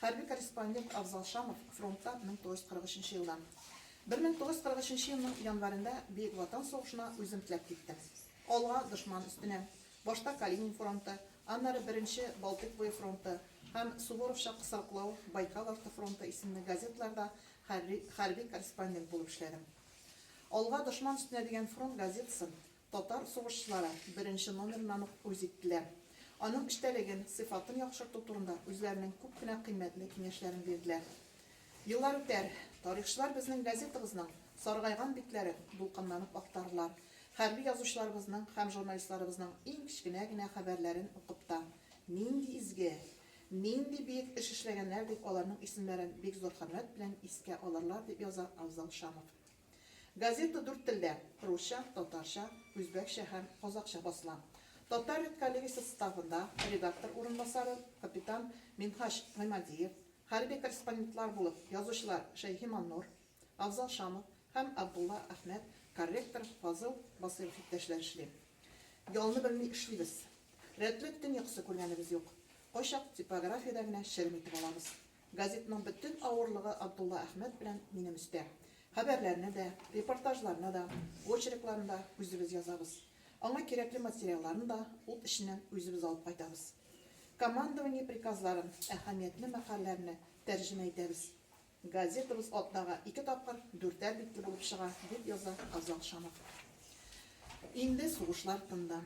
Хәрби корреспондент Авзал Шамов фронтта 1943 нче елда. 1943 елның январенда Бөек Ватан сугышына үзем теләп киттем. Алга, дошман өстенә! Башта Калинин фронты, аннары Беренче Балтыйк буе фронты һәм Суворовча кысрыклау, Байкал арты фронты исемле газеталарда хәрби корреспондент булып эшләдем. Алга, дошман өстенә дигән фронт газетасын Татар сугышчылары беренче номерыннан ук үз иттеләр. Аның эчтәлеген, сыйфатын яхшырту турында үзләренең күп кенә кыйммәтле киңәшләрен бирделәр. Еллар үтәр, тарихчылар безнең газетабызның саргайган битләрен дулкынланып актарырлар, хәрби язучыларыбызның һәм журналистларыбызның иң кечкенә генә хәбәрләрен укып та, нинди изге, нинди биек эш эшләгәннәр дип аларның исемнәрен бик зур хөрмәт белән искә алырлар, дип яза Авзал Шамов. Газета дүрт телдә, русча, татарча, үзбәкчә һәм казакъча басыла. Татар редколлегиясе составында редактор урынбасары, капитан Минһаҗ Гыймадиев, хәрби корреспондентлар булып язучылар Шәйхи Маннур, Афзал Шамов һәм Абдулла Әхмәт, корректор Фазыл Басыйров иптәшләр эшли. Ялны белми эшлибез. Рәтләп төн йокысы күргәнебез юк. Кайчак типографиядә генә черем итеп алабыз. Газетның бөтен авырлыгы Абдулла Әхмәт белән минем өстә. Хәбәрләрне дә, репортажларны да, очеркларын да үзебез язабыз. Аңа кирәкле материалларын да ут эченнән үзебез алып кайтабыз. Командование приказларын, әһәмиятле мәкальләрне тәрҗемә итәбез. Газетабыз атнага ике тапкыр дүртәр битле булып чыга, дип яза Азат Шамов. Инде сугышлар тынды.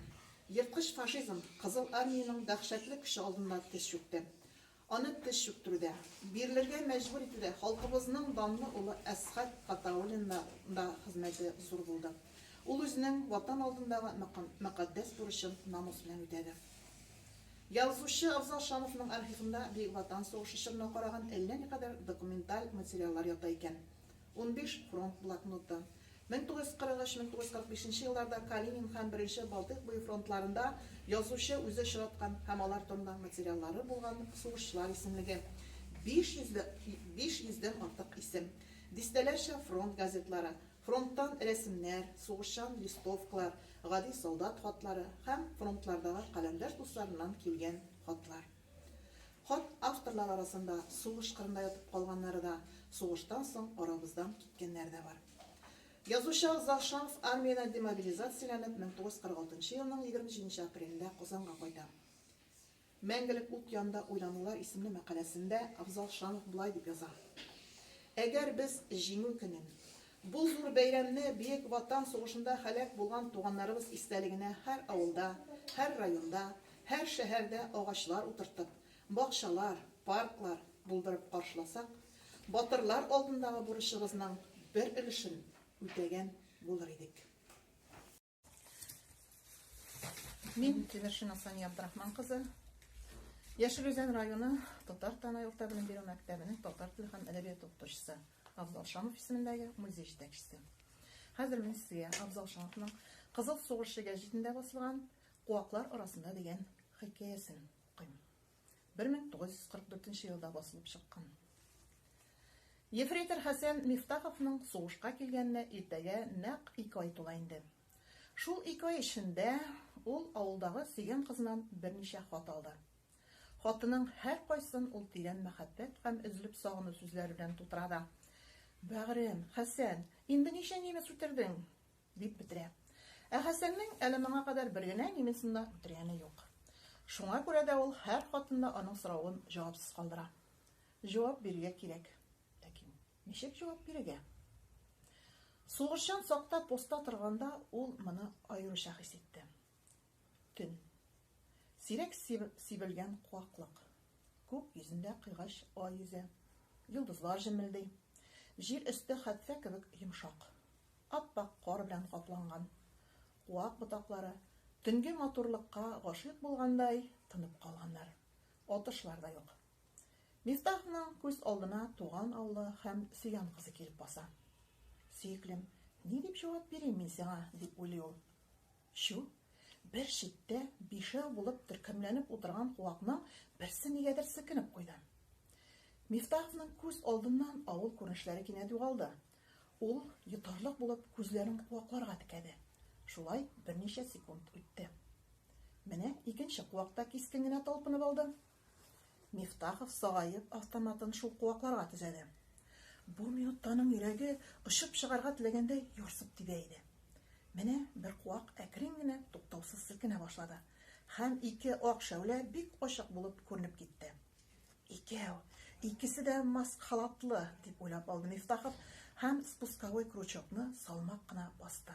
Ерткыч фашизм Кызыл Армиянең дәһшәтле көче алдында тез чүкте. Аны теш чүктерүдә, бирелергә мәҗбүр итүдә халкыбызның данлы улы Әсхәт Гатауллинның да хезмәте зур булды. Ул үзенең Ватан алдындагы мөкатдәс бурычын намус белән үтәде. Язучы Абзал Шамовның архивында Бөек Ватан сугышы чорына караган әллә никадәр документаль материаллар ята икән. Унбиш фронт блокноты. Мең тугыз йөз кырык өч, мең тугыз йөз кырык бишенче елларда Калинин һәм Беренче Балтыйк буе фронтларында язучы үзе очраткан һәм алар турында материаллары булган сугышчылар исемлеге. Биш йөзле, биш йөздән артык исем. Дистәләрчә фронт газетлары, фронттан рәсемнәр, сугышчан листовкалар, гади солдат хатлары һәм фронтлардагы каләмдәш дусларыннан килгән хатлар. Хат авторлары арасында сугыш кырында ятып калганнары да, сугыштан соң арабыздан киткәннәре дә бар. Язучы Авзал Шамов армиядән демобилизацияләнеп 1946 елның 27 нче апрелендә Казанга кайта. Мәңгелек ут янында уйланулар исемле мәкаләсендә Авзал Шамов болай дип яза, Әгәр без Җиңү көнен, бу зур бәйрәмне Бөек Ватан сугышында һәлак булган туганнарыбыз истәлегенә һәр авылда, һәр районда, Һәр шәһәрдә агачлар утыртып, бакчалар, парклар булдырып каршыласак, батырлар алдындагы бурычыбызның бер өлешен үтәгән булыр идек. Мин Тимершина Сания Абдрахман кызы. Яшел Үзән районы Татар Танай урта белем бирү мәктәбенең татар теле һәм әдәбият укытучысы Абзал Шамов исемендәге музей җитәкчесе. Хәзер мин сезгә Абзал Шамовның Кызыл сугышы гәҗитендә басылган Куаклар арасында дигән хикәясен укыйм. 1944 елда басылып чыккан. Ефрейтор Хәсән Мифтаховның сугышка килгәненә иртәгә нәкъ ике ай тула инде. Шул ике ай эчендә ул авылдагы сөйгән кызыннан берничә хат алды. Хатының һәркайсын ул тирән мәхәббәт һәм өзелеп сагыну сүзләре белән тутыра да. Бәгърем, Хәсән, инде ничә немец үтердең? Дип бетерә. Ә Хәсәннең әле моңа кадәр бер генә немецны да үтергәне юк. Шуңа күрә дә ул һәр хатында аның соравын җавапсыз калдыра. Җавап бирергә кирәк. Ләкин ничек җавап бирергә? Сугышчан сакта постта торганда ул моны аеруча хис итте. Төн. Сирәк сибелгән куаклык. Күк йөзендә кыйгач ай йөзә. Йолдызлар җемелди. Җир өсте хәтфә кебек йомшак. Ап-ак кар белән капланган. Куак ботаклары, төнге матурлыкка гашыйк булгандай, тынып калганнар. Атышлар да юк. Мифтахның күз алдына туган авылы һәм сөйгән кызы килеп баса. Сөеклем, ни дип җавап бирим мин сиңа, дип уйлый ул. Чү, бер читтә бишәү булып төркемләнеп утырган куакның берсе нигәдер селкенеп куйды. Мифтаховның күз алдыннан авыл күренешләре кинәт югалды. Ул, йотарлык булып, күзләрен куакларга текәде. Шулай берничә секунд үтте. Менә икенче куак та кискен генә талпынып алды. Мифтахов сагаеп автоматын шул куакларга төзәде. Бу минутта аның йөрәге очып чыгарга теләгәндәй ярсып тибә иде. Менә бер куак әкрен генә туктаусыз селкенә башлады һәм ике ак шәүлә бик ачык булып күренеп китте. Икәү, икесе дә маск халатлы, дип уйлап алды Мифтахов һәм спусковой крючокны салмак кына басты.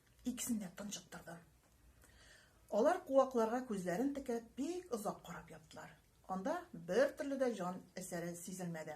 Икесен дә тончыктырдым. Алар куакларга күзләрен текәп бик озак карап яттылар. Анда бер төрле дә җан әсәре сизелмәде.